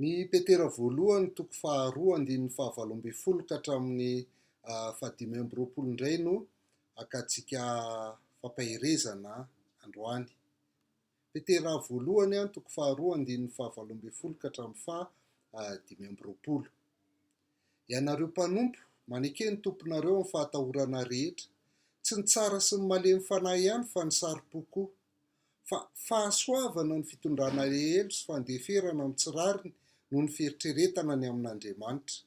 Ny Petera voalohany toko faharoa andininy fahavalo ambin'ny folo ka hatramin'ny fahadimy amby roapolo indray no akantsika fampaherezana androany. Petera voalohany an toko faharoa andininy fahavalo ambin'ny folo ka hatramin'ny faha dimy amby roapolo. Ianareo mpanompo, maneke ny tomponareo amin'ny fahatahorana rehetra, tsy ny tsara sy ny malemy fanahy ihany fa ny saropo koa. fa fahasoavana ny fitondrana helo sy fandeferana ny tsy rariny noho ny fieritreretana ny amin'Andriamanitra.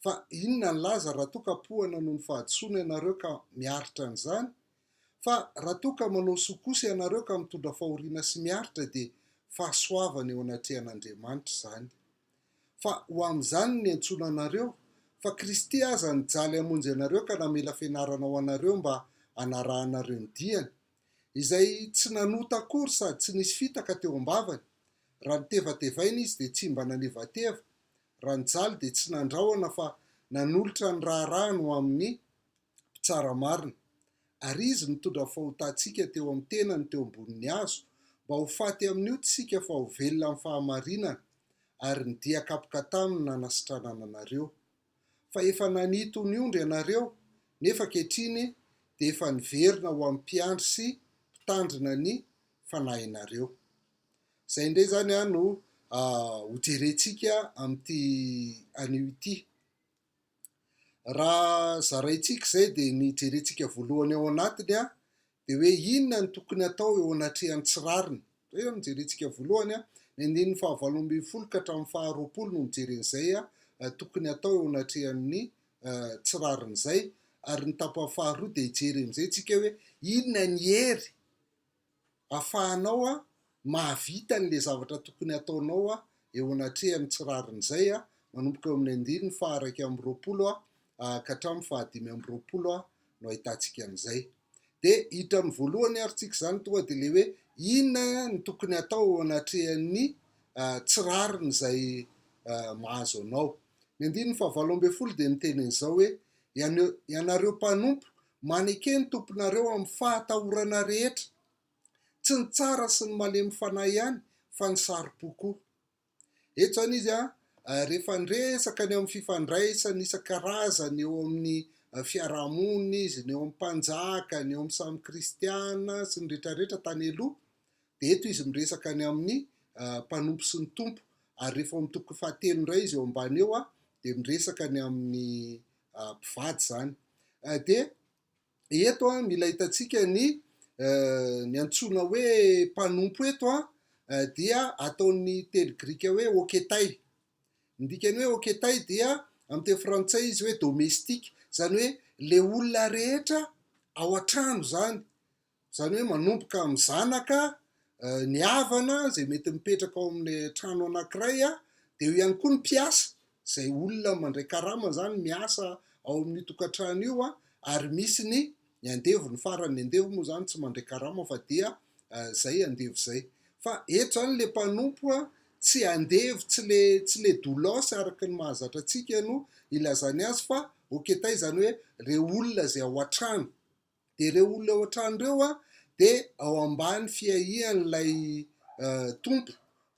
Fa inona ny laza raha toa ka poana noho ny fahadisoana ianareo ka miaritra an'izany? Fa raha toa ka manao soa kosa ianareo ka mitondra fahoriana sy miaritra dia fahasoavana eo anatrehan'Andriamanitra izany. Fa ho amin'izany no niantsoana anareo, fa Kristy aza nijaly hamonjy anareo ka namela fianarana ho anareo mba hanarahanareo ny diany, izay tsy nanota akory sady tsy nisy fitaka teo am-bavany, raha nitevatevaina izy dia tsy mba nanevateva, raha nijaly dia tsy nandrahona fa nanolotra ny raharahany ho amin'ny Mpitsara marina. Ary Izy nitondra fahotantsika teo amin'ny tenany teo ambonin'ny hazo, mba ho faty amin'ny ota isika fa ho velona amin'ny fahamarinana, ary ny dia kapoka taminy nanasitranana anareo. fa efa nanitony ondry ianareo nefa ankehitriny dia efa niverina ho amin'ny mpiandry sy mpitandrina ny fanahinareo. Izay indray izany no hojerentsika amin'ity anio ity. Raha zaraintsika izay dia ny jerentsika voalohany ao anatiny Dia hoe inona no tokony hatao eo anatrehan'ny tsy rariny? Izay izao no jerentsika voalohany. Ny andininy fahavalo ambin'ny folo ka hatramin'ny faharoapolo no mijery an'izay tokony hatao eo anatrehan'ny tsy rariny izay. Ary ny tapany faharoa dia hijery amin'izay tsika hoe inona ny hery afahanao mahavita an'ilay zavatra tokony hataonao eo anatrehan'ny tsy rariny izay, manomboka eo amin'ny andininy faha iraika amby roapolo ka hatramin'ny fahadimy amby roapolo no ahitantsika an'izay. Dia hiditra amin'ny voalohany ary tsika izany tonga dia ilay hoe inona no tokony hatao eo anatrehan'ny tsy rariny izay mahazo anao. Ny andininy fahavalo ambin'ny folo dia miteny an'izao hoe ianareo mpanompo maneke ny tomponareo amin'ny fahatahorana rehetra, tsy ny tsara sy ny malemy fanahy ihany fa ny saro-po koa. Eto izany izy rehefa niresaka ny eo amin'ny fifandraisany isan-karazany eo amin'ny fiarahamonina izy, ny eo amin'ny mpanjaka, ny eo amin'ny samy kristiana sy ny rehetra rehetra tany aloha, dia eto izy miresaka ny amin'ny mpanompo sy ny tompo, ary rehefa eo amin'ny toko fahatelo indray izy eo ambany eo dia miresaka ny amin'ny mpivady izany. Dia eto an, mila hitantsika ny ny antsoina hoe mpanompo eto an, dia ataon'ny teny grika hoe oketai. Ny dikany hoe oketai dia amin'ny teny frantsay izy hoe domestique, izany hoe ilay olona rehetra ao an-trano izany, Izany hoe manomboka amin'ny zanaka, ny havana izay mety mipetraka ao amin'ny trano anankiray, dia eo ihany koa ny mpiasa izay olona mandray karama izany miasa ao amin'io tokantrano io ary misy ny ny andevo, ny faran'ny andevo moa izany tsy mandray karama fa dia izay andevo izay. Fa eto izany ilay mpanompo tsy andevo, tsy ilay tsy ilay doulos araka ny mahazatra antsika no ilazany azy fa oketay izany hoe ireo olona izay ao an-trano. Dia ireo olona ao an-trano ireo dia ao ambany fiahian'ilay tompo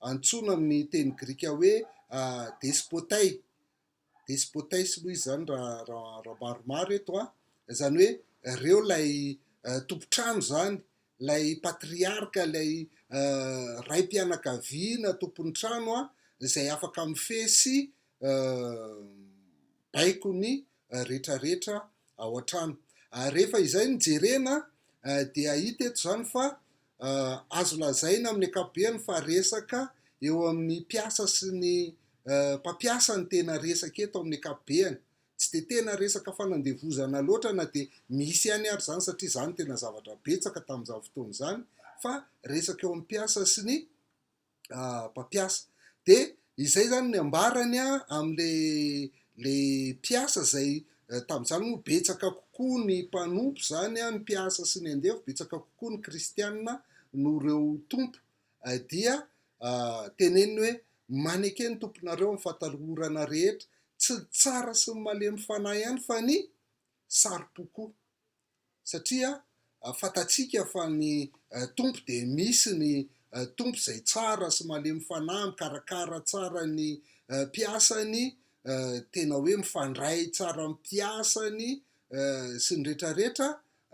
antsoina amin'ny teny grika hoe despotay, despotes moa izy izany raha raha maromaro eto an, izany hoe ireo ilay tompon-trano izany, ilay patriarka, ilay raim-pianakaviana tompon'ny trano an, izay afaka mifehy sy baiko ny retraretra ao an-trano. Ary rehefa izay no jerena dia hita eto izany fa azo lazaina amin'ny ankapobeny fa resaka eo amin'ny mpiasa sy ny mpampiasa no tena resaka eto amin'ny ankapobeny. Tsy dia tena resaka fanandevozana loatra na dia misy ihany ary izany satria izany no tena zavatra betsaka tamin'izany fotoana izany fa resaka eo amin'ny mpiasa sy ny mpampiasa de izay zany ny ambarany amle le mpiasa zay tamin'izany moa betsaka kokoa ny mpanompo zany ny mpiasa sy ny andevo betsaka kokoa ny kristianina no reo tompo dia teneniny hoe maneke ny tomponareo amin'ny fatalorana rehetra tsy ny tsara sy ny malemy fanahy ihany fa ny saro-po koa satria fantatsika fa ny Tompo dia misy, ny Tompo izay tsara sy malemy fanahy mikarakara tsara ny mpiasany, tena hoe mifandray tsara amin'ny mpiasany sy ny rehetra rehetra,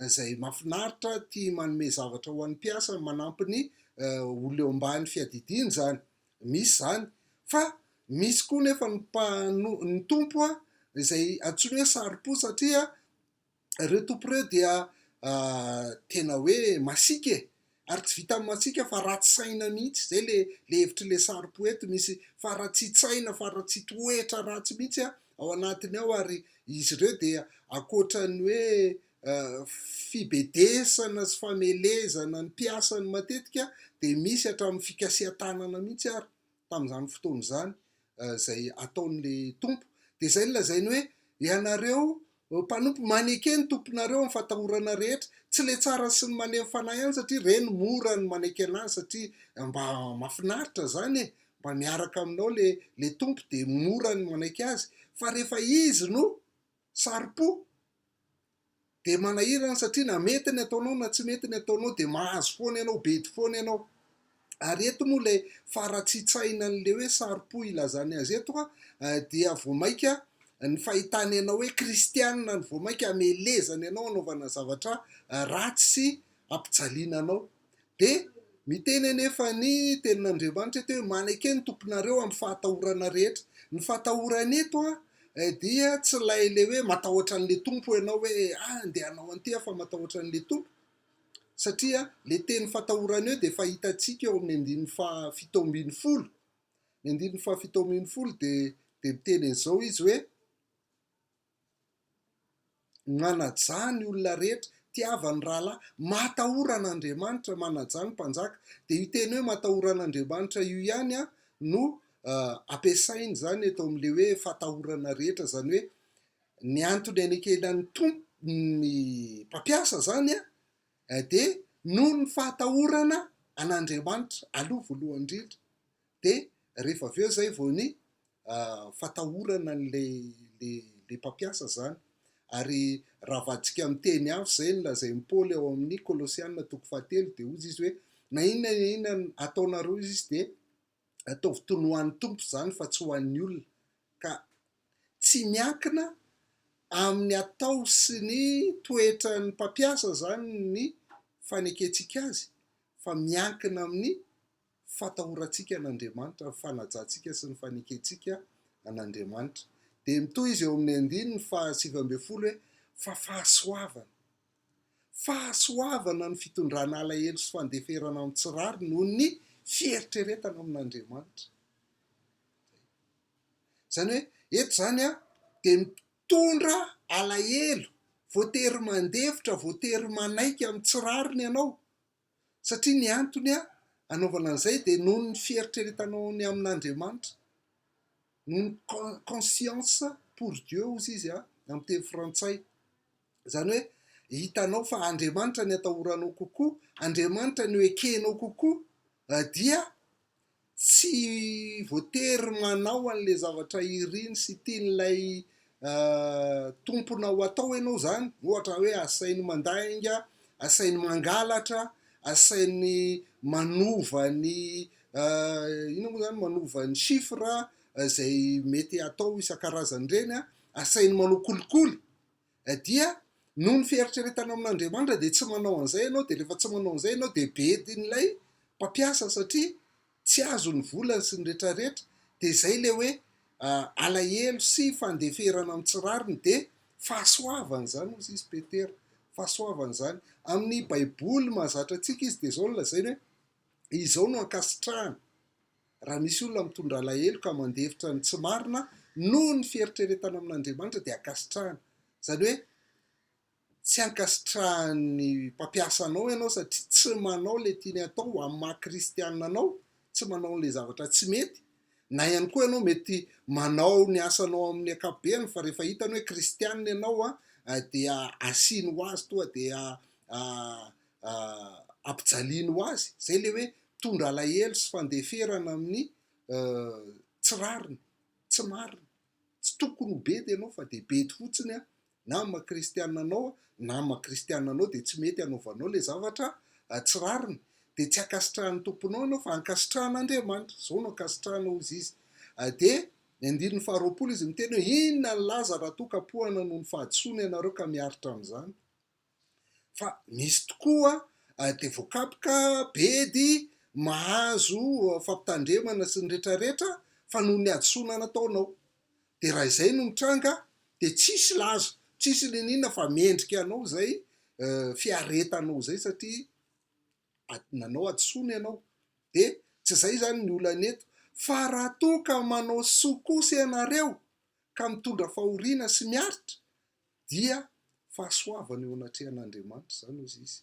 izay mahafinaritra, tia manome zavatra ho an'ny mpiasany, manampy ny olona eo ambany fiadidiany izany, misy izany, fa misy koa nefa ny Tompo izay antsoina hoe saro-po satria ireo tompy ireo dia tena hoe masiaka e, ary tsy vitan'ny masiaka fa ratsy saina mihitsy, izay le le hevitry le sary-po eto misy faratsian-tsaina, faratsian-toetra ratsy mihitsy a ao anatiny ao, ary izy ireo dia ankoatran'ny hoe fibedesana sy famelezana ny mpiasany matetika dia misy hatramin'ny fikasihan-tanana mihitsy ary. tamin'izany fotoana izany izay ataon'ilay tompo, dia izay no lazainy hoe ianareo mpanompo maneke ny tomponareo amin'ny fatahorana rehetra, tsy ilay tsara sy ny manemy fanahy ihany satria ireny mora ny maneke anazy satria mba mafinaritra izany e, mba miaraka aminao le le tompo dia mora ny manaiky azy, fa rehefa izy no saro-po, dia manahirana satria na mety ny ataonao na tsy mety ny ataonao dia mahazo foana ianao, bedy foana ianao. Ary eto moa ilay faratsian-tsaina an'ilay hoe saro-po ilazany azy eto dia vao mainka ny fahitany anao hoe kristianina no vao mainka hamelezany anao hanaovana zavatra ratsy sy hampijaliana anao. Dia miteny anefa ny tenin'Andriamanitra eto hoe maneke ny tomponareo amin'ny fahatahorana rehetra. Ny fahatahorana eto dia tsy ilay ilay hoe matahotra an'ilay tompo ianao hoe ah andeha hanao an'ity aho fa matahotra an'ilay tompo satria le teny fatahorana eo dia fahitantsika eo amin'ny andininy faha fito ambin'ny folo ny andininy faha fito ambin'ny folo dia dia miteny an'izao izy hoe Manajà ny olona rehetra, tiava ny rahalahy, matahora an'Andriamanitra, manajà ny mpanjaka. Dia io teny hoe matahora an'Andriamanitra io ihany no ampiasainy izany eto amin'ilay hoe fatahorana rehetra, izany hoe ny antony anekenan'ny Tompo, ny mpampiasa izany dia noho ny fahatahorana an'Andriamanitra aloha voalohany indrindra. dia rehefa avy eo izay vao ny fatahorana an'ilay mpampiasa izany. Ary raha avadika amin'ny teny hafa izay ny lazain'i Paoly ao amin'ny Kolosiana toko fahatelo dia hozy izy hoe na inona na inona ataonareo hozy izy dia ataovy toy ny ho an'ny Tompo izany fa tsy ho an'ny olona. Ka tsy miankina amin'ny atao sy ny toetran'ny mpampiasa izany ny fanekentsika azy fa miankina amin'ny fatahorantsika an'Andriamanitra, ny fanajantsika sy ny fanekentsika an'Andriamanitra. Dia mitohy izy eo amin'ny andininy faha sivy ambin'ny folo hoe, Fa fahasoavana. Fahasoavana ny fitondrana alahelo sy fandeferana amin'ny tsy rariny noho ny fieritreretana amin'Andriamanitra. Izany hoe, eto izany an, dia mitondra alahelo, voatery mandefitra, voatery manaiky amin'ny tsy rariny ianao, Satria ny antony anaovana an'izay dia noho ny fieritreretanao ny amin'Andriamanitra, noho ny conscience pour Dieu hozy izy amin'ny teny frantsay. Izany hoe hitanao fa Andriamanitra ny atahoranao kokoa, Andriamanitra no ekenao kokoa dia Tsy voatery manao an'ilay zavatra iriny sy tian'ilay tomponao atao ianao izany. Ohatra hoe asainy mandainga, asainy mangalatra, asainy manova ny inona moa izany, manova ny chiffres izay mety atao isan-karazany ireny, asainy manao kolikoly. dia noho ny fieritreretanao amin'Andriamanitra dia tsy manao an'izay ianao dia rehefa tsy manao an'izay ianao dia bedin'ilay mpampiasa satria tsy azo ny volany sy ny retraretra dia izay le hoe alahelo sy fandeferana amin'ny tsy rariny dia fahasoavana izany hozy izy Petera fahasoavana izany amin'ny baiboly mahazatra antsika izy dia izao ny lazainy hoe izao no ankasitrahana Raha misy olona mitondra alahelo ka mandefitra ny tsy marina noho ny fieritreretana amin'Andriamanitra dia ankasitrahana. Izany hoe tsy ankasitrahan'ny mpampiasa anao ianao satria tsy manao ilay tiany hatao ho amin'ny maha kristiana anao, tsy manao an'ilay zavatra tsy mety. Na ihany koa ianao mety manao ny asanao amin'ny ankapobeny fa rehefa hitany hoe kristiana ianao dia asiany ho azy toa dia ampijaliany ho azy, izay ilay hoe mitondra alahelo sy fandeferana amin'ny tsy rariny, tsy marina. Tsy tokony ho bedy ianao fa dia bedy fotsiny an, na amin'ny maha kristiana anao an, na amin'ny maha kristiana anao dia tsy mety hanaovanao ilay zavatra tsy rariny. Dia tsy ankasitrahan'ny Tomponao ianao fa ankasitrahan'Andriamanitra, izao no ankasitrahana hoy izy. Dia ny andininy faharoapolo izy miteny hoe inona ny laza raha toa ka poahana noho ny fahadisoana ianareo ka miaritra amin'izany. fa misy tokoa dia voakapoka bedy mahazo fampitandremana sy ny rehetra rehetra fa noho ny hadisoana nataonao dia raha izay no mitranga dia tsisy laza tsisy niniana fa mendrika anao izay fiaretanao izay satria nanao hadisoana ianao dia tsy izay izany ny olana eto fa raha toa ka manao soa kosa ianareo ka mitondra fahoriana sy miaritra dia fahasoavana eo anatrehan'Andriamanitra izany hozy izy.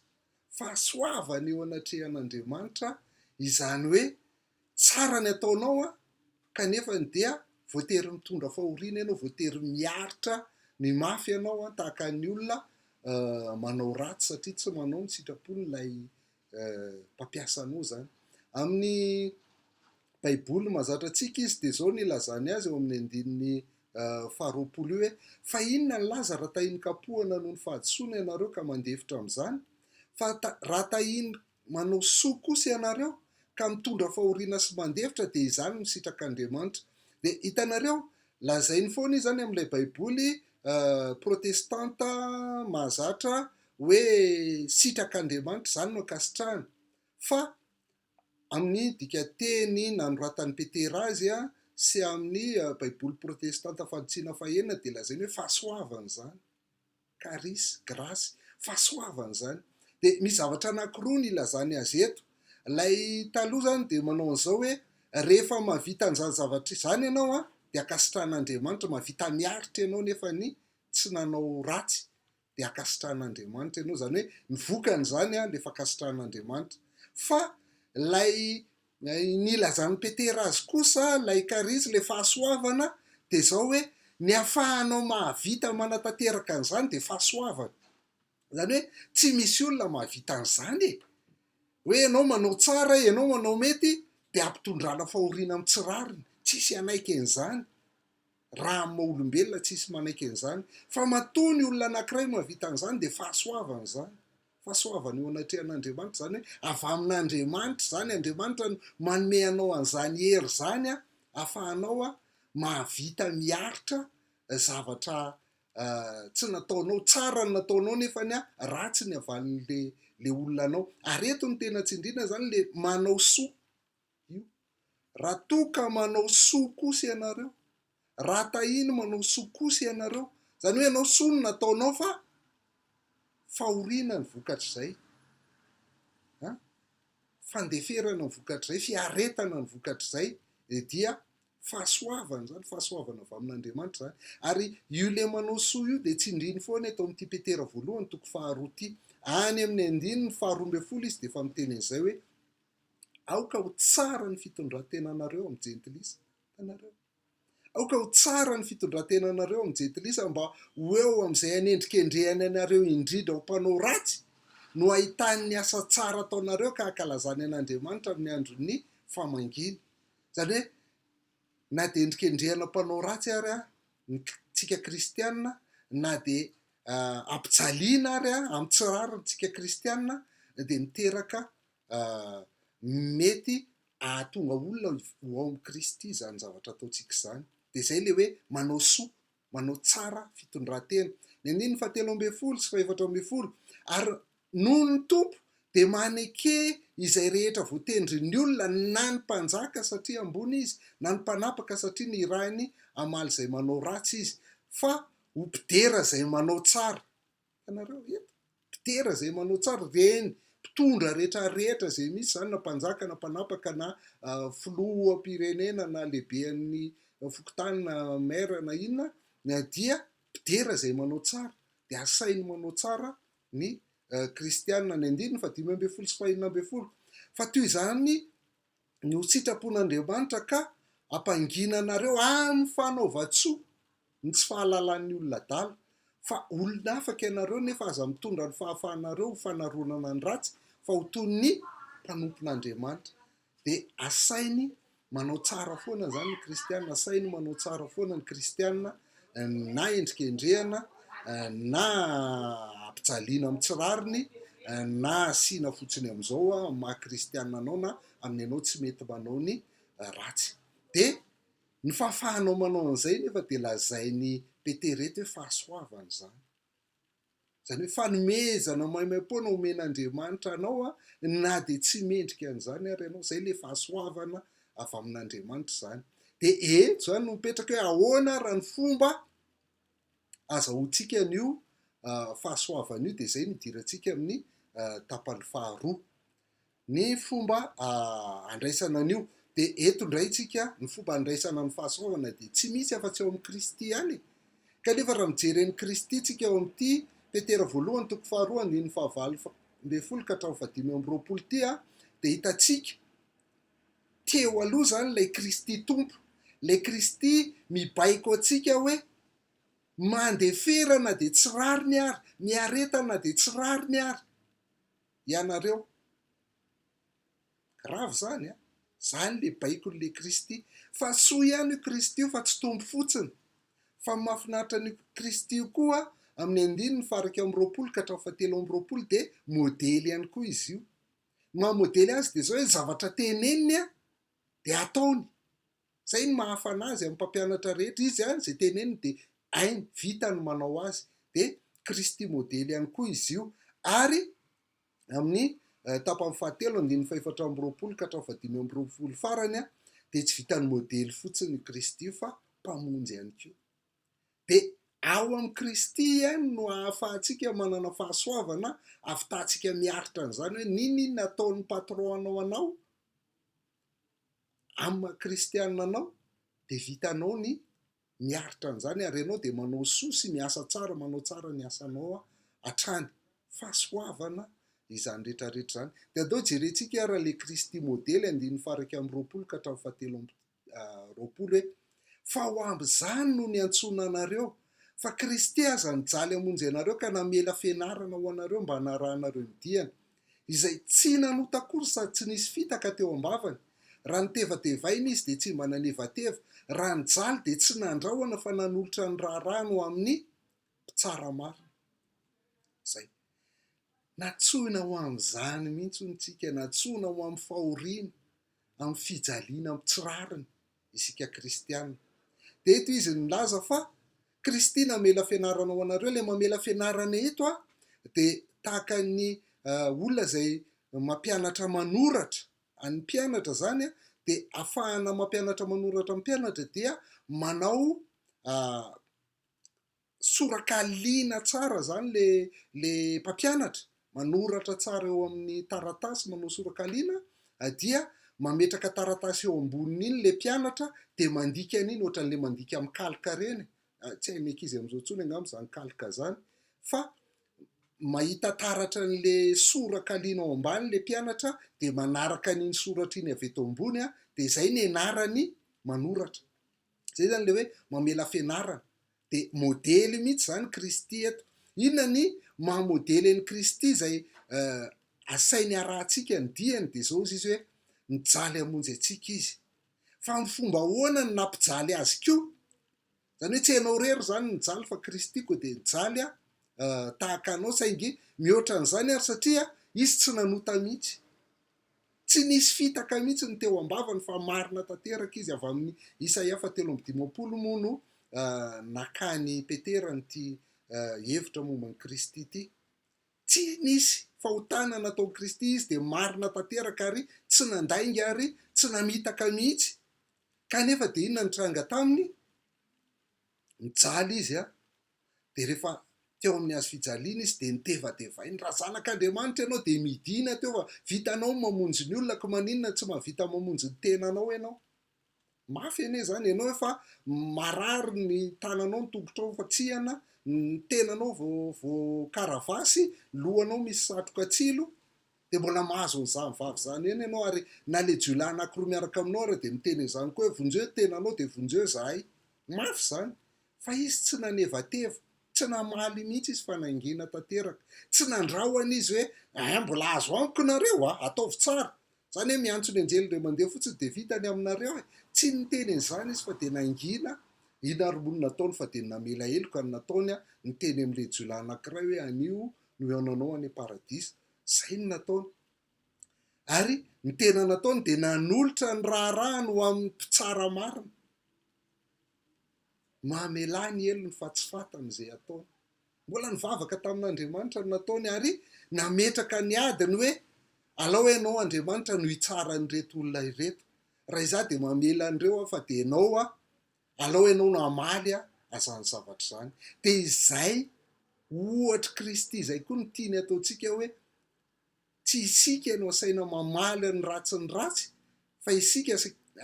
Fahasoavana eo anatrehan'Andriamanitra izany hoe tsara ny ataonao an, kanefa ny dia voatery mitondra fahoriana ianao, voatery miaritra ny mafy ianao an, tahaka ny olona manao ratsy satria tsy manao ny sitrapon'ilay mpampiasa anao izany. Amin'ny Baiboly mazatra antsika izy dia izao ny ilazany azy eo amin'ny andininy faharoapolo hoe fa inona ny laza raha tahian-kapohana noho ny fahadisoana ianareo ka mandefitra amin'izany? Fa raha tahian manao soa kosa ianareo ka mitondra fahoriana sy mandefitra dia izany no sitrak'Andriamanitra. Dia hitanareo, lazainy foana izy izany amin'ilay Baiboly protestanta mahazatra hoe sitrak'Andriamanitra, izany no ankasitrahany. Fa amin'ny dikanteny nanoratan'i Petera azy sy amin'ny Baiboly protestanta fanitsiana fahenina dia lazainy hoe fahasoavana izany, karis, grasy, fahasoavana izany. Dia misy zavatra anankiroa no ilazany azy eto. Ilay taloha izany dia manao an'izao hoe rehefa mahavita an'izany zavatra izany ianao an, dia ankasitrahan'Andriamanitra, mahavita miaritra ianao nefa ny tsy nanao ratsy. dia ankasitrahan'Andriamanitra ianao, izany hoe ny vokan'izany dia efa ankasitrahan'Andriamanitra. Fa ilay nilazan'i Petera azy kosa, ilay karisma, ilay fahasoavana dia izao hoe ny ahafahanao mahavita manatanteraka an'izany dia fahasoavana. Izany hoe tsy misy olona mahavita an'izany e! Hoe ianao manao tsara, ianao manao mety dia ampitondrana fahoriana amin'ny tsy rariny, tsisy hanaiky an'izany. raha amin'ny maha olombelona tsy hisy manaiky an'izany, fa matoa ny olona anankiray no hahavita an'izany dia fahasoavana izany, fahasoavana eo anatrehan'Andriamanitra, izany hoe avy amin'Andriamanitra izany, Andriamanitra no manome anao an'izany hery izany ahafahanao mahavita miaritra zavatra tsy nataonao, tsara ny nataonao nefa ny ratsy ny havalin'ilay olona anao, ary eto ny tena tsindriana izany ilay manao soa, Madio. Raha toa ka manao soa kosa ianareo, raha tahiany manao soa kosa ianareo, izany hoe ianao soa no nataonao fa fahoriana ny vokatr'izay, an, fandeferana ny vokatr'izay, fiaretana ny vokatr'izay, eh, dia fahasoavana izany, fahasoavana avy amin'Andriamanitra izany. Ary io ilay manao soa io dia tsindriny foana eto amin'ity Petera voalohany toko faharoa ity. Any amin'ny andininy faharoa ambin'ny folo izy dia efa miteny an'izay hoe Aoka ho tsara ny fitondran-tenanareo amin'ny Jentilisa. Hitanareo? Aoka ho tsara ny fitondran-tenanareo amin'ny Jentilisa mba ho eo amin'izay anendrikendrehany anareo indrindra ho mpanao ratsy no ahitany ny asa tsara ataonareo ka hankalazany an'Andriamanitra amin'ny andron'ny famangiany. Izany hoe, na dia endrikendrehana mpanao ratsy ary aho, ny tsika kristianina, na dia uh, ampijaliana ary aho amin'ny tsy rariny tsika kristianina, dia miteraka Mety hahatonga olona ho ao amin'i Kristy izany zavatra ataontsika izany. Dia izay ilay hoe manao soa, manao tsara fitondran-tena. Ny andininy fahatelo ambin'ny folo sy fahefatra ambin'ny folo, ary noho ny Tompo dia maneke izay rehetra voatendrin'ny olona na ny mpanjaka satria ambony izy, na ny mpanapaka satria nirahiny hamaly izay manao ratsy izy, fa ho mpidera izay manao tsara. Ianareo rehetra, mpidera izay manao tsara, ireny mpitondra rehetrarehetra izay misy izany na mpanjaka na mpanapaka na filoham-pirenena na lehiben'ny fokontany na maire na inona dia mpidera izay manao tsara, dia asainy manao tsara ny kristiana, ny andininy fahadimy ambin'ny folo sy fahenina ambin'ny folo. Fa toy izany ny ho sitrapon'Andriamanitra ka hampangina anareo amin'ny fanaovan-tsoa ny tsy fahalalan'ny olona adala, fa olona afaka ianareo nefa aza mitondra ny fahafahanareo ho fanaronana ny ratsy fa ho toy ny mpanompon'Andriamanitra, dia asainy manao tsara foana izany ny kristiana, asainy manao tsara foana ny kristiana na endrikendrehana, na ampijaliana amin'ny tsy rariny, na asiana fotsiny amin'izao amin'ny maha kristiana anao na amin'ny anao tsy mety manao ny ratsy. Dia ny fahafahanao manao an'izay nefa dia lazain'i Petera eto hoe fahasoavana izany. Izany hoe fanomezana maimaim-poana omen'Andriamanitra anao na dia tsy mendrika an'izany ary ianao. Izay ilay fahasoavana avy amin'Andriamanitra izany. Dia eto izany no mipetraka hoe ahoana ary ny fomba azahoantsika an'io fahasoavana io dia izay no hidirantsika amin'ny tapany faharoa. Ny fomba handraisana an'io. Dia eto indray tsika ny fomba handraisana ny fahasoavana dia tsy misy afa-tsy ao amin'i Kristy ihany e! Kanefa raha mijery an'i Kristy tsika ao amin'ity Petera voalohany toko faharoa andininy fahavalo ambin'ny folo ka hatramin'ny fahadimy amby roapolo ity a, dia hitantsika teo aloha izany ilay Kristy Tompo, ilay Kristy mibaiko antsika hoe mandefera na dia tsy rariny ary, miareta na dia tsy rariny ary. ianareo. Grave zany a! Zany le baiko ny le Kristy fa soa ihany io Kristy io fa tsy tompo fotsiny fa mafinaritra an'io Kristy io koa amin'ny andininy faha iraika amby roapolo ka hatramin'ny faha telo amby roapolo dia modely ihany koa izy io. Ny maha modely azy dia zao hoe ny zavatra teneniny dia ataony. Izay no mahafana azy amin'ny mpampianatra rehetra. Izy ihany izay teneniny dia hainy, vitany ny manao azy. Dia Kristy modely ihany koa izy io. Ary amin'ny tapany fahatelo, andininy fahefatra amby roapolo ka hatramin'ny fahadimy amby roapolo farany, dia tsy vitan'ny modely fotsiny i Kristy io fa Mpamonjy ihany koa. Dia ao amin'i Kristy ihany no ahafahantsika manana fahasoavana hahafitahantsika miaritra an'izany hoe n'inon'inona ataon'ny patron-nao anao, Amin'ny maha kristianina anao dia vitanao ny miaritra an'izany ary ianao dia manao soa sy miasa tsara, manao tsara ny asanao hatrany. Fahasoavana izany rehetra rehetra izany. Dia andao jerentsika ary ilay Kristy modely andininy faha-iraika amby roapolo ka hatramin'ny fahatelo amby roapolo hoe, Fa ho amin'izany no niantsoana anareo, fa Kristy aza nijaly hamonjy anareo ka namela fianarana ho anareo mba hanarahanareo ny diany. izay tsy nanota akory sady tsy nisy fitaka teo am-bavany, raha notevatevaina izy dia tsy mba nanevateva, raha nijaly dia tsy nandrahona fa nanolotra ny raharahany ho amin'ny Mpitsara marina. Izay. Nantsoina ho amin'izany mihitsy hono isika, nantsoina ho amin'ny fahoriana, amin'ny fijaliana amin'ny tsy rariny isika kristiana. Dia eto izy nilaza fa Kristy namela fianarana ho anareo. Ilay mamela fianarana eto a, dia tahaka ny olona izay mampianatra manoratra an'ny mpianatra izany a, dia afahana mampianatra manoratra ny mpianatra dia manao Tsoraka liana tsara zany le le mpampianatra, manoratra tsara eo amin'ny taratasy manao soraka liana dia mametraka taratasy eo amboniny iny le mpianatra dia mandika an'iny ohatran'le mandika amin'ny kalka reny, tsy hain'ny ankizy amin'izao tsony angamba zany kalka zany fa mahita taratra an'le soraka liana ao ambany le mpianatra dia manaraka an'iny soratra iny avy eto ambony dia zay nenarany manoratra, zay zany le hoe mamela fianarana. Dia modely mihitsy izany Kristy eto. Inona ny maha modely an'i Kristy izay asainy harahantsika ny diany? Dia izao hozy izy hoe, Nijaly hamonjy antsika izy. Fa amin'ny fomba ahoana no nampijaly azy koa? Izany hoe tsy ianao irery izany nijaly fa Kristy koa dia nijaly tahaka anao saingy mihoatra an'izany ary satria izy tsy nanota mihitsy. Tsy nisy fitaka mihitsy ny teo am-bavany fa marina tanteraka izy avy amin'ny Isaia fahatelo amby dimampolo moa no nakan'i Petera an'ity hevitra momba an'i Kristy ity. Tsy nisy fahotana nataon'i Kristy izy dia marina tanteraka ary tsy nandainga ary tsy namitaka mihitsy. Kanefa dia inona ny tranga taminy? Nijaly izy an! Dia rehefa teo amin'ny hazo fijaliana izy dia nitevatevainy, raha zanak'Andriamanitra ianao dia midina teo fa vitanao ny mamonjy ny olona ko maninona tsy mahavita mamonjy ny tenanao ianao? Mafy anie izany, ianao efa marary ny tananao ny tongotrao efa tsihana, ny tenanao voakaravasy, lohanao misy satroka tsilo, Dia mbola mahazo an'izany vavy izany ihany ianao ary na ilay jiolahy anankiroa miaraka aminao ary dia miteny an'izany koa hoe vonjeo ny tenanao dia vonjeo izahay. Mafy izany. Fa izy tsy nanevateva, tsy namaly mihitsy izy fa nangina tanteraka. Tsy nandrahona izy hoe eh mbola azo amiko nareo a, ataovy tsara. Izany hoe miantso ny anjely indray mandeha fotsiny dia vita ny aminareo e. Tsy niteny an'izany izy fa dia nangina iny ary moa ny nataony fa dia namela heloka ny nataony a, niteny amin'ilay jiolahy anankiray hoe anio no hihaonanao any am-paradisa. Izay no nataony. Ary ny tena nataony dia nanolotra ny raharahany ho amin'ny mpitsara marina. Mamelà ny helony fa tsy fatany izay ataony. Mbola nivavaka tamin'Andriamanitra no nataony ary nametraka ny adiny hoe alao ianao Andriamanitra no hitsara an'ireto olona ireto. Raha izaho dia mamela an'ireo aho fa dia ianao aho Alao ianao no hamaly azany zavatra izany. Dia izay ohatr'i Kristy izay koa no tiany hataontsika hoe, tsy isika no asaina mamaly ny ratsy ny ratsy, fa isika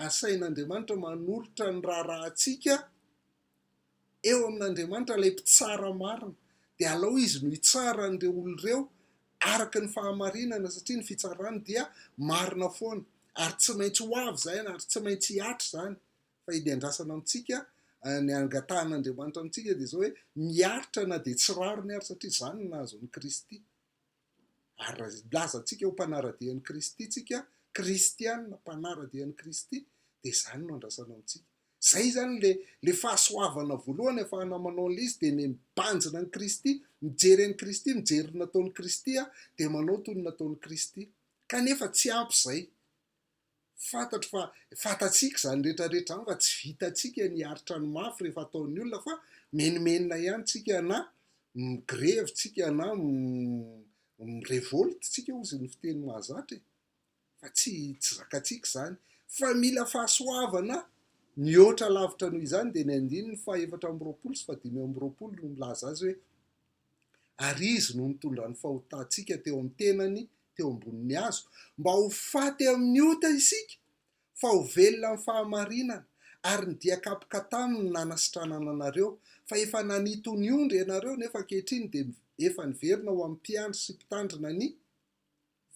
asain'Andriamanitra manolotra ny raharahantsika eo amin'Andriamanitra, ilay mpitsara marina. Dia alao izy no hitsara an'ireo olona ireo araka ny fahamarinana, satria ny fitsarany dia marina foana. Ary tsy maintsy ho avy izany, ary tsy maintsy hihatra izany, fa ny andrasana amintsika, ny angatahan'Andriamanitra amintsika dia izao hoe miaritra na dia tsy rariny ary satria izany no nahazo an'i Kristy. Ary raha lazantsika ho mpanara-dia an'i Kristy tsika, kristiana mpanara-dia an'i Kristy, dia izany no andrasana amintsika. Izay izany le le fahasoavana voalohany afahana manao an'ilay izy dia ny mibanjina an'i Kristy, mijery an'i Kristy, mijery ny nataon'i Kristy dia manao toy ny nataon'i Kristy. Kanefa tsy ampy izay. Fantatro fa fantatsika izany rehetra rehetra izany fa tsy vitantsika ny hiaritra ny mafy rehefa ataon'ny olona fa menomenona ihany tsika na migrevy tsika na mirevolte tsika hozy ny fiteny mahazatra e! fa tsy tsy zakatsika izany fa mila fahasoavana mihoatra lavitra noho izany dia ny andininy fahefatra amby roapolo sy fahadimy amby roapolo no milaza azy hoe Ary Izy no nitondra ny fahotantsika teo amin'ny tenany teo ambonin'ny hazo, mba ho faty amin'ny ota isika, fa ho velona amin'ny fahamarinana, ary ny dia kapoka taminy no nanasitranana anareo, fa efa nanito ny ondry ianareo, nefa ankehitriny dia efa niverina ho amin'ny mpiandry sy mpitandrina ny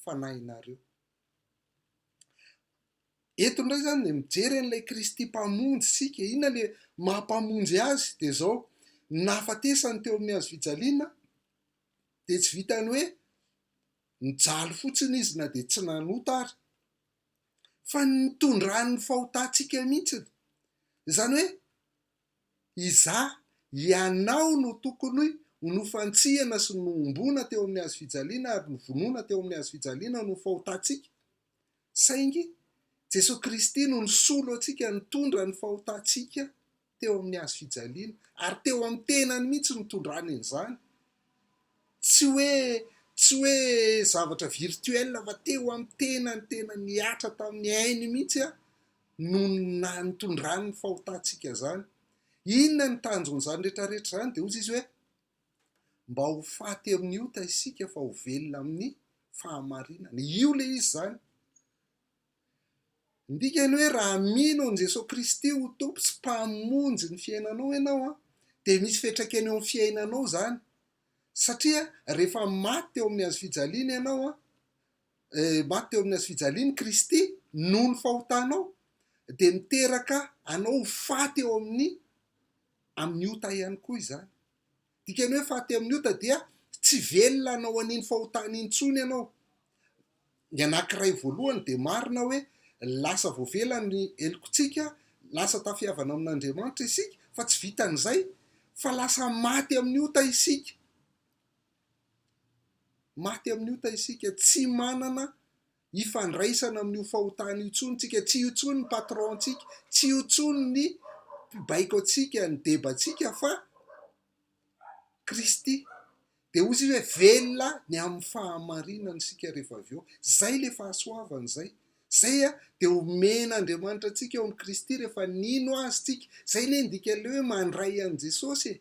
fanahinareo. Eto indray izany dia mijery an'ilay Kristy Mpamonjy isika. Inona ilay maha Mpamonjy Azy? Dia izao, ny nahafatesany teo amin'ny hazo fijaliana dia tsy vitan'ny hoe nijaly fotsiny Izy na dia tsy nanota ary, fa ny nitondran'ny fahotantsika mihitsy. Izany hoe, Izaho, ianao no tokony ho nofantsihana sy nohomboana teo amin'ny hazo fijaliana ary novonoina teo amin'ny hazo fijaliana noho ny fahotantsika. Saingy Jesoa Kristy no nisolo antsika nitondra ny fahotantsika teo amin'ny hazo fijaliana, ary teo amin'ny tenany mihitsy no nitondrany an'izany. Tsy hoe, tsy hoe zavatra virtuel fa teo amin'ny tenany tena nihatra tamin'ny ainy mihitsy noho ny naha nitondrany ny fahotantsika izany. Inona ny tanjon'izany rehetrarehetra izany? Dia hoy izy hoe, Mba ho faty amin'ny ota isika fa ho velona amin'ny fahamarinana. Io ilay izy izany. Ny dikany hoe raha mino an'i Jesoa Kristy ho Tompo sy Mpamonjy ny fiainanao ianao, an, dia misy fiantraikany eo amin'ny fiainanao izany. Satria rehefa maty teo amin'ny hazo fijaliana ianao, an, maty teo amin'ny hazo fijaliany Kristy noho ny fahotanao dia miteraka anao ho faty eo amin'ny amin'ny ota ihany koa izany. Dikany hoe faty amin'ny ota dia tsy velona anao an'iny fahotana intsony ianao. Ny anankiray voalohany dia marina hoe lasa voavela ny helokontsika, lasa tafiavana amin'Andriamanitra isika fa tsy vitan'izay fa lasa maty amin'ny ota isika. Maty amin'ny ota isika, tsy manana ifandraisana amin'io fahotana io intsony isika, tsy io intsony ny patron-tsika, tsy io intsony ny mpibaiko antsika, ny debatsika fa Kristy. Dia hoy izy hoe velona ny amin'ny fahamarinana isika rehefa avy eo. Izay ilay fahasoavana izay. Izay dia omen'Andriamanitra antsika ao amin'i Kristy rehefa nino azy isika. Izay anie ny dikan'ilay hoe mandray an'i Jesosy e.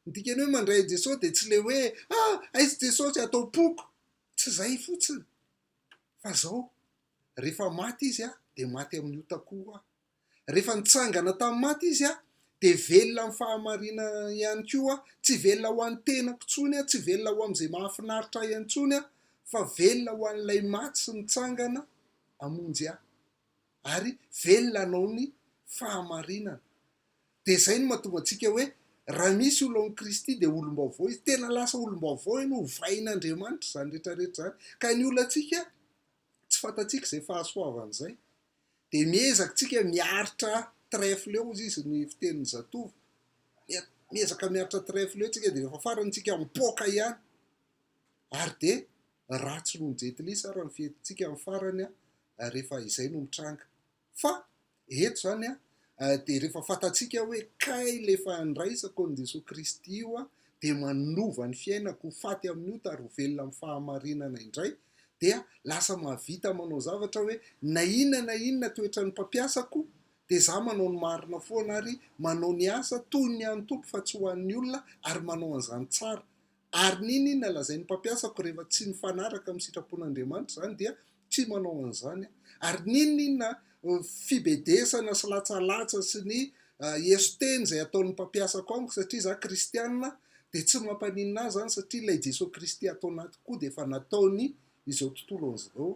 Ny dikan'ny hoe mandray an'i Jesosy dia tsy ilay hoe ah aiza Jesosy atao poko, tsy izay fotsiny fa izao, rehefa maty izy ah dia maty amin'ny otakoho aho, rehefa nitsangana tamin'ny maty izy ah dia velona amin'ny fahamarinana ihany koa aho, tsy velona ho an'ny tenako intsony aho, tsy velona ho amin'izay mahafinaritra ahy intsony aho fa velona ho an'ilay maty sy nitsangana hamonjy ahy. ary velona hanao ny fahamarinana. Dia izay no mahatonga antsika hoe raha misy olo ao amin'i Kristy dia olom-baovao izy. Tena lasa olom-baovao ianao, ovain'Andriamanitra izany rehetra rehetra izany. Ka ny olantsika, tsy fantatsika izay fahasoavany izay. Dia miezaka tsika miaritra trèfle hoy izy izy ny fitenin'ny zatovo. Miezaka miaritra trèfle tsika dia rehefa farany tsika mipoaka ihany. Ary dia ratsy noho ny Jet Li sara ny fihetsintsika amin'ny farany rehefa izay no mitranga. Fa eto izany dia rehefa fantatsika hoe kay ilay efa handraisako an'i Jesoa Kristy io dia manova ny fiainako ho faty amin'ny ota ary ho velona amin'ny fahamarinana indray dia lasa mahavita manao zavatra hoe na inona na inona toetra ny mpampiasako dia za manao ny marina foana ary manao ny asa toy ny an'ny Tompo fa tsy ho an'ny olona ary manao an'izany tsara Ary ny inona lazain'ny mpampiasako rehefa tsy mifanaraka amin'ny sitrapon'Andriamanitra izany dia tsy manao an'izany aho. Ary ny inona inona fibedesana sy latsalatsa sy ny eso-teny izay ataon'ny mpampiasako amiko satria izaho kristiana dia tsy mampaninona ahy izany satria ilay Jesoa Kristy ato anatiko koa dia efa nataony izao tontolo an'izao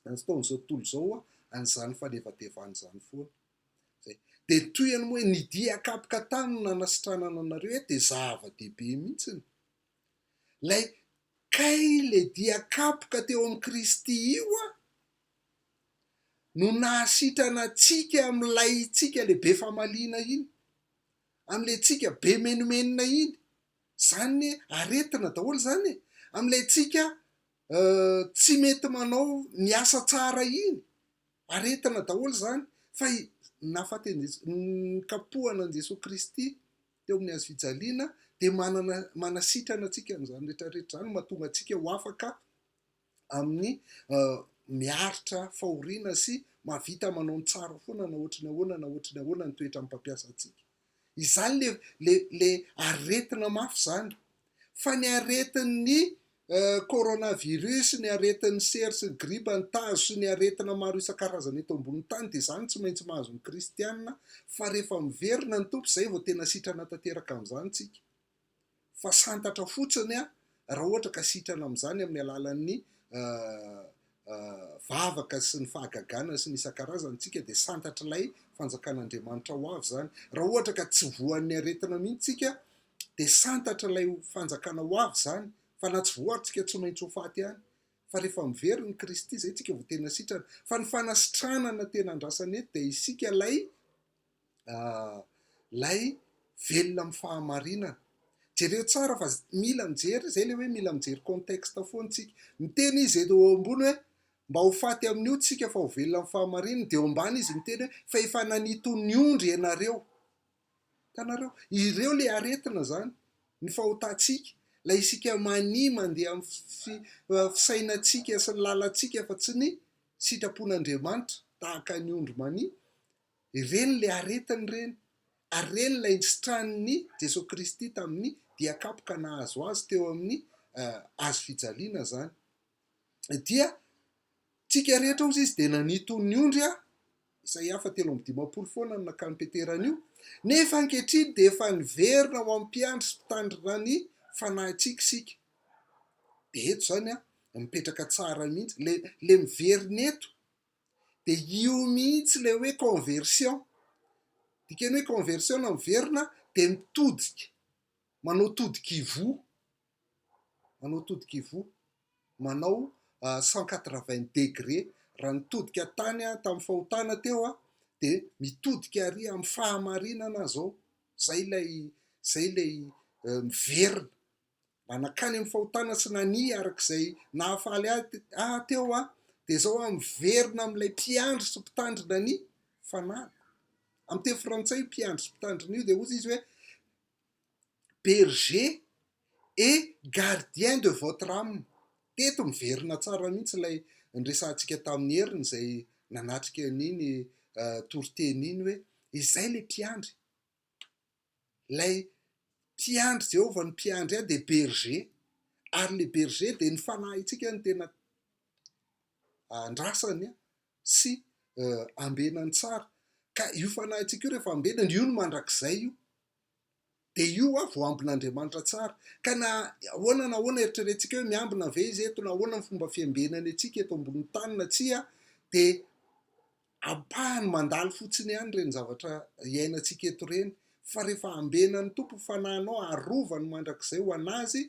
nataon'izao tontolo izao an'izany fanevadevana izany foana. Zay. Dia toy an'ny hoe ny dia kapoka tany no nanasitranana anareo eto dia zava-dehibe mihitsy ny. Ilay kay ilay dia kapoka teo amin'i Kristy io a, no nahasitrana antsika amin'ilay tsika ilay be famaliana iny, amin'ilay tsika be menomenona iny. Izany aretina daholo izany e, amin'ilay tsika tsy mety manao ny asa tsara iny. aretina daholo izany fa nikapohana an'i Jesoa Kristy teo amin'ny hazo fijaliana dia manana manasitrana antsika amin'izany rehetra rehetra izany mahatonga antsika ho afaka amin'ny miaritra fahoriana sy mahavita manao ny tsara foana na ohatry ny ahoana na ohatry ny ahoana ny toetran'ny mpampiasa antsika. Izany le le le aretina mafy zany. Fa ny aretin'ny coronavirus, ny aretin'ny sery sy ny gripa, ny tazo sy ny aretina maro isan-karazany eto ambonin'ny tany dia izany tsy maintsy mahazo ny kristiana fa rehefa miverina ny Tompo izay vao tena sitrana tanteraka amin'izany tsika. fa santatra fotsiny raha ohatra ka sitrana amin'izany amin'ny alalan'ny vavaka sy ny fahagagana sy ny isan-karazany isika dia santatr'ilay fanjakan'Andriamanitra ho avy izany. Raha ohatra ka tsy voan'ny aretina mihitsy isika dia santatr'ilay fanjakana ho avy izany fa na tsy voa ary isika tsy maintsy ho faty ihany fa rehefa mivery ny Kristy izay isika vao tena sitrana fa ny fanasitranana tena andrasana eto dia isika ilay ilay velona amin'ny fahamarinana. Jereo tsara fa mila mijery, izay ilay hoe mila mijery contexte foana isika. Miteny izy eto eo ambony hoe mba ho faty amin'io tsika fa ho velona amin'ny fahamarinana, dia eo ambany izy miteny hoe fa efa nanitony ondry ianareo. Hitanareo? Ireo ilay aretina izany, ny fahotantsika, ilay isika mania mandeha amin'ny fisainantsika sy ny lalantsika fa tsy ny sitrapon'Andriamanitra, tahaka ny ondry mania, Ireny ilay aretiny ireny, ary ireny ilay nisitranin'i Jesoa Kristy tamin'ny dia kapoka nahazo Azy teo amin'ny Hazo fijaliana izany. Dia tsika rehetra hozy izy dia nanito ny ondry aho, izay hafa telo amby dimampolo foana no nakany Petera anio, nefa ankehitriny dia efa niverina ho amin'ny mpiandry sy mpitandrina ny fanahintsika isika. Dia eto izany aho, mipetraka tsara mihitsy, le, le miverina eto. dia io mihitsy ilay hoe conversion, dikany hoe conversion na miverina dia mitodika, manao todika ivoho, manao todika ivoho, manao cent quatre vingt degre, raha nitodika tany aho tamin'ny fahotana teo aho dia mitodika ary amin'ny fahamarinana aho izao, izay ilay izay ilay miverina. mba nankany amin'ny fahotana sy nania araka izay nahafaly ahy teo aho, dia izao aho miverina amin'ilay mpiandry sy mpitandrina ny fanahiko. Amin'ny teny frantsay io mpiandry sy mpitandrina io dia hoy izy hoe berger et gardien de votre âme. Teto miverina tsara mihitsy ilay niresahantsika tamin'i Heriny izay nanatrika an'iny toriteny iny hoe izay ilay mpiandry Ilay mpiandry, Jehovah no mpiandry ahy dia bergé, ary ilay bergé dia ny fanahintsika no tena andrasany sy ambenany tsara, ka io fanahintsika io rehefa ambenany, io no mandrakizay io, dia io ho'a vao ambin'Andriamanitra tsara, ka na ahoana na ahoana eritreretintsika hoe miambina ve Izy eto, na ahoana ny fomba fiambenany antsika eto ambonin'ny tany na tsia dia. Ampahany mandalo fotsiny ihany ireny zavatra iainantsika eto ireny, fa rehefa hambenan'ny Tompo ny fanahinao, arovany mandrakizay ho an'Azy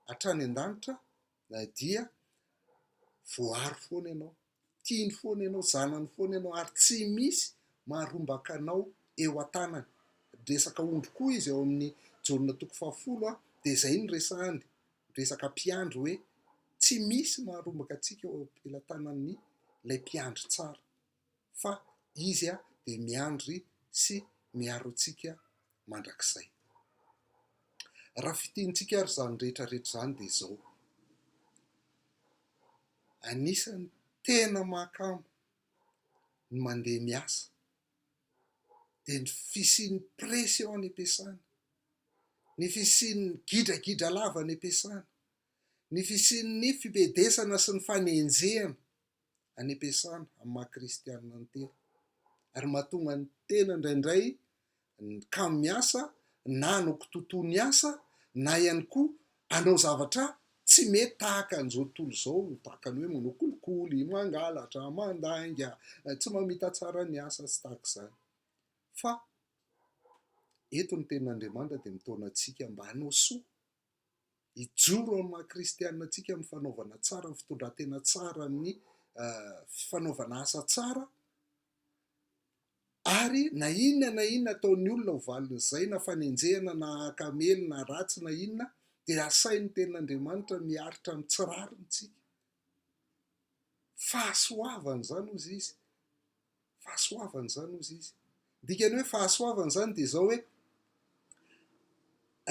hatrany an-danitra, dia voaro foana ianao, tiany foana ianao, zanany foana ianao, ary tsy misy maharombaka anao eo an-tanany. Resaka ondry koa izy ao amin'ny Jaona toko fahafolo, dia izay no resahany. resaka mpiandry hoe tsy misy maharombaka antsika eo am-pelatanan'ny ilay mpiandry tsara fa izy dia miandry sy miaro antsika mandrakizay. Raha fitiantsika ary izany rehetra rehetra izany dia izao, anisan'ny tena mahakamo ny mandeha miasa dia ny fisian'ny pression any am-piasana, ny fisian'ny gidragidra lava any am-piasana, ny fisian'ny fibedesana sy ny fanenjehana any am-piasana amin'ny maha kristianina ny tena. Ary mahatonga ny tena indraindray ny kamo miasa na hanao kitoatoa ny asa na ihany koa Hanao zavatra tsy mety tahaka an'izao tontolo izao, tahaka ny hoe manao kolikoly, mangalatra, mandainga, tsy mamita tsara ny asa sy tahaka izany. Fa eto ny tenin'Andriamanitra dia mitaona antsika mba hanao soa, hijoro amin'ny maha kristianina antsika amin'ny fanaovana tsara, amin'ny fitondran-tena tsara, amin'ny fanaovana asa tsara, Ary na inona na inona ataon'ny olona ho valin'izay, na fanenjehana, na hakamely, na ratsy, na inona, dia asain'ny Tenin'Andriamanitra miaritra amin'ny tsy rariny tsika. Fahasoavana izany hozy izy. Fahasoavana izany hozy izy. Dikany hoe fahasoavana izany dia izao hoe,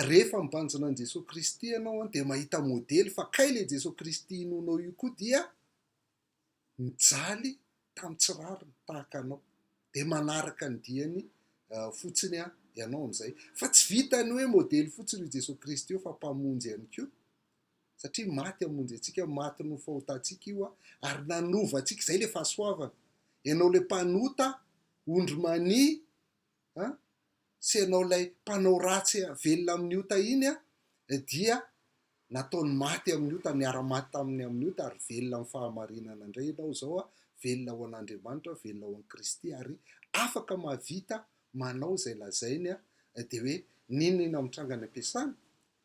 rehefa mibanjina an'i Jesoa Kristy ianao dia mahita modely fa kay ilay Jesoa Kristy inoanao io koa dia mijaly tamin'ny tsy rariny tahaka anao dia manaraka ny diany fotsiny aho ianao amin'izay fa tsy vitany hoe modely fotsiny i Jesoa Kristy io fa mpamonjy ihany koa satria maty amonjy antsika maty no fahotantsika io aho ary nanova antsika izay le fahasoavana ianao le mpanota ondry mania an! tsy ianao ilay mpanao ratsy velona amin'ny ota iny an! dia nataony maty amin'ny ota, niara-maty taminy amin'ny ota ary velona amin'ny fahamarinana indray ianao izao an! velona ho an'Andriamanitra, velona ho an'i Kristy ary afaka mahavita manao izay lazainy an! dia hoe n'inon'inona mitranga any am-piasana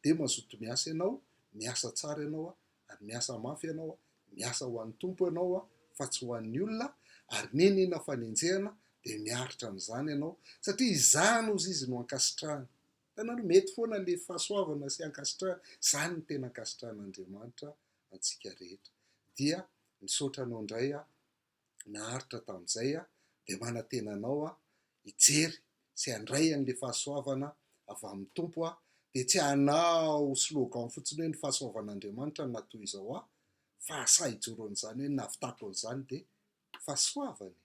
dia mazoto miasa ianao, miasa tsara ianao an! ary miasa mafy ianao a, miasa ho an'ny Tompo ianao a, fa tsy ho an'ny olona, ary nenina fanenjehana, dia miaritra amin'izany ianao, satria izany ozy izy no ankasitrahany. Hitanareo, mety foana ilay fahasoavana sy ankasitrahana, izany no tena ankasitrahan'Andriamanitra antsika rehetra. Dia misaotra anao indray aho. naharitra tamin'izay aho dia manantena anao aho hijery sy handray an'ilay fahasoavana avy amin'ny Tompo aho dia tsy hanao slogan fotsiny hoe ny fahasoavan'Andriamanitra no natoy izao ahy fa asahy hijoro an'izany hoe ny nahavitako an'izany dia fahasoavana e!